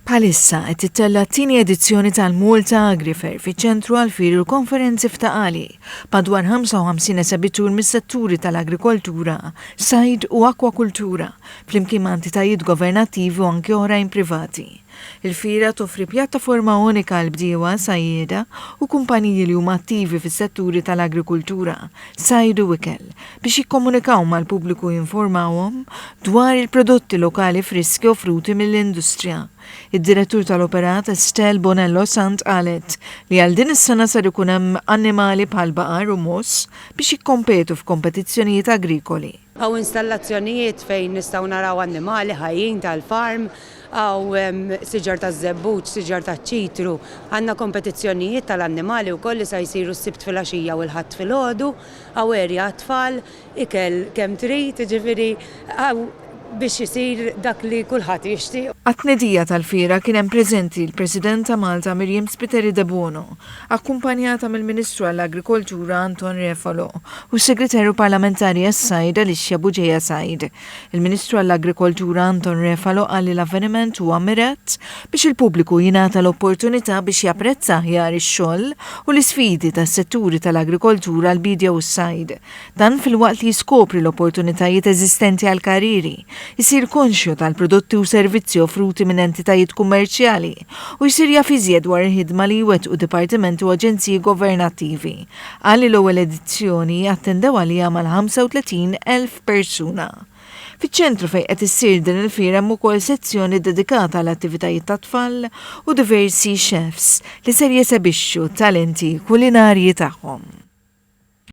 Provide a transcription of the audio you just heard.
Bħalissa qed tittella' t-tieni edizzjoni tal-Malta Agrifair fiċ-Ċentru għall-Firi u l-Konferenzi f'Ta' Qali, b'madwar 55 esebitur mis-setturi tal-agrikoltura, sajd u akkwakultura, flimkien ma' entitajiet governattivi u anki oħrajn privati. Il-fiera toffri pjattaforma unika għall-bdiewa, sajjieda u kumpaniji li huma attivi fis-setturi tal-agrikultura, sajd u ikel, biex jikkomunikaw mal-pubbliku u jinformawhom dwar il-prodotti lokali friski offruti mill-industrija. Id-Direttur tal-Operat Estelle Bonello Sant qalet li għal din is-sena ser ikun hemm annimali bħal baqar u mogħoż biex jikkompetu f'kompetizzjonijiet agrikoli. Hawn installazzjonijiet fejn nistgħu naraw annimali ħajjin tal-farm, hawn hemm siġar taż-żebbuġ, siġar taċ-ċitru. Għandna kompetizzjonijiet tal-annimali wkoll li sa jsiru s-Sibt filgħaxija u l-Ħadd filgħodu. Awerja għat-tfal, ikel kemm trid, jiġifieri hawn biex isir dak li kulħadd jixtieq. Għat-tnedija tal-fiera kien hemm preżenti l-President ta' Malta Miriam Spiteri Debono, akkumpanjata mill-Ministru għall-Agrikoltura Anton Refalo u s-Segretarju Parlamentari għas-Sajd Alicia Bugeja Said. Il-Ministru għall-Agrikoltura Anton Refalo qal li l-avveniment huwa mirat biex il-pubbliku jingħata l-opportunità biex japprezza aħjar ix-xogħol u l-isfidi tas-setturi tal-agrikoltura, l-biedja u s-sajd. Dan filwaqt li jiskopri l-opportunitajiet eżistenti għall-karrieri, isir konxju tal-prodotti u servizzi offruti minn entitajiet kummerċjali u jsir jaf iżjed dwar il-ħidma li jwettqu dipartimenti u aġenziji governattivi qal li l-ewwel edizzjoni attendew għaliha mal-35 elf persuna. Fiċ-ċentru fejn qed issir din il-fiera hemm ukoll sezzjoni dedikata għal attivitajiet tat-tfal u diversi chefs li ser jesebixxu t-talenti kulinarji tagħhom.